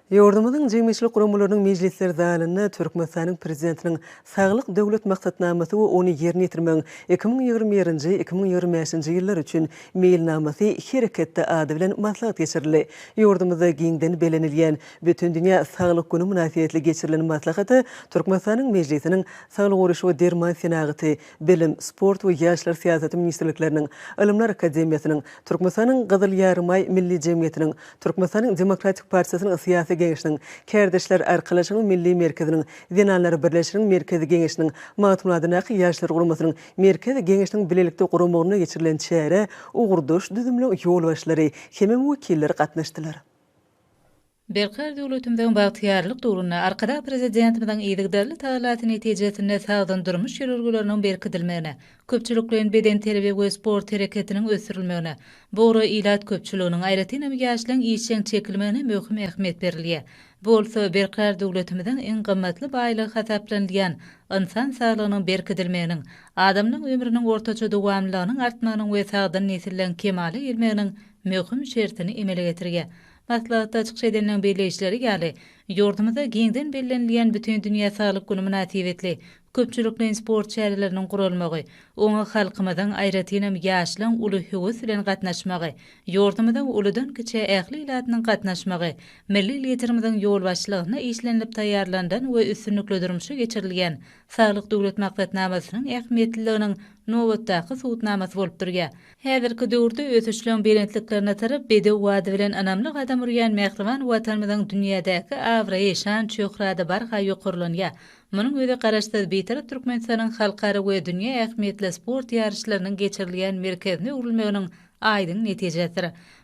Ýurdumyzyň jemgyýetçilik guramalarynyň mejlisler zalynda Türkmenistanyň Prezidentiniň Saglyk Döwlet maksatnamasy we ony ýerine ýetirmegiň iki müň ýigrimi birinji, iki müň ýigrimi bäşinji ýyllar üçin meýilnamasy hereketde ady bilen maslahat geçirildi. Ýurdumyzda giňden bellenilýän Bütindünýä saglyk güni mynasybetli geçirilen maslahata Türkmenistanyň Mejlisiniň Saglyk goraýyş we derman senagaty, Bilim, sport we ýaşlar syýasaty ministrlikleriniň, Ylymlar akademiýasynyň, Türkmenistanyň Gyzyl Ýarymaý Milli jemgyýetiniň, Türkmenistanyň Demokratik partiýasynyň Syýasy geňeşiniň, Kärdeşler arkalaşygynyň Milli merkeziniň, Zenanlar birleşiginiň Merkezi geňeşiniň, Magtymguladyndaky Ýaşlar guramasynyň Merkezi geňeşiniň bilelikde guramagynda geçirilen çärä ugurdaş düzümliň ýolbaşçylary hemem wekilleri gatnaşdylar. Berkarar döwletimiziň bagtyýarlyk döwründe Arkadag Prezidentimiziň yzygiderli tagallasy netijesinde sagdyn durmuş ýörelgeleriniň berkidilmegine, köpçülikleýin bedenterbiýe we sport hereketiniň ösdürilmegine, bu ugra ilat köpçüliginiň, aýratynam ýaşlaryň işjeň çekilmegine möhüm ähmiýet berilýär. Bu bolsa Berkarar döwletimiziň iň gymmatly baýlygy hasaplanylýan ynsan saglygynyň berkidilmeginiň, adamlaryň ömrüniň ortaça dowamlylygynyň artmagynyň we sagdyn nesilleň kemala gelmeginiň möhüm şertini emele getirýär. Maslahatda çykyş edenleriň belleýişleri ýaly, ýurdumyzda giňden bellenilýän Bütindünýä saglyk güni mynasybetli köpçülikleýin sport çäreleriniň guralmagy, oňa halkymyzyň, aýratynam, ýaşlaryň uly höwes bilen gatnaşmagy, ýurdumyzyň uludan-kiçä ähli ilatynyň gatnaşmagy, milli Liderimiziň ýolbaşçylygynda işlenilip taýýarlanylan we üstünlikli durmuşa geçirilýän Saglyk Döwlet maksatnamasynyň ähmiýetliliginiň nobatdaky subutnamasy bolup durýar. Häzirki döwürde ösüşleň belentliklerine tarap bedew bady bilen ynamly gadam urýan mähriban Watanymyzyň dünýädäki abraýy, şan-şöhrady barha ýokarlanýar. Munuň özi Garaşsyz, Bitarap Türkmenistanyň halkara we dünýä ähmiýetli sport ýaryşlarynyň geçirilýän merkezine öwrülmeginiň aýdyň netijesidir.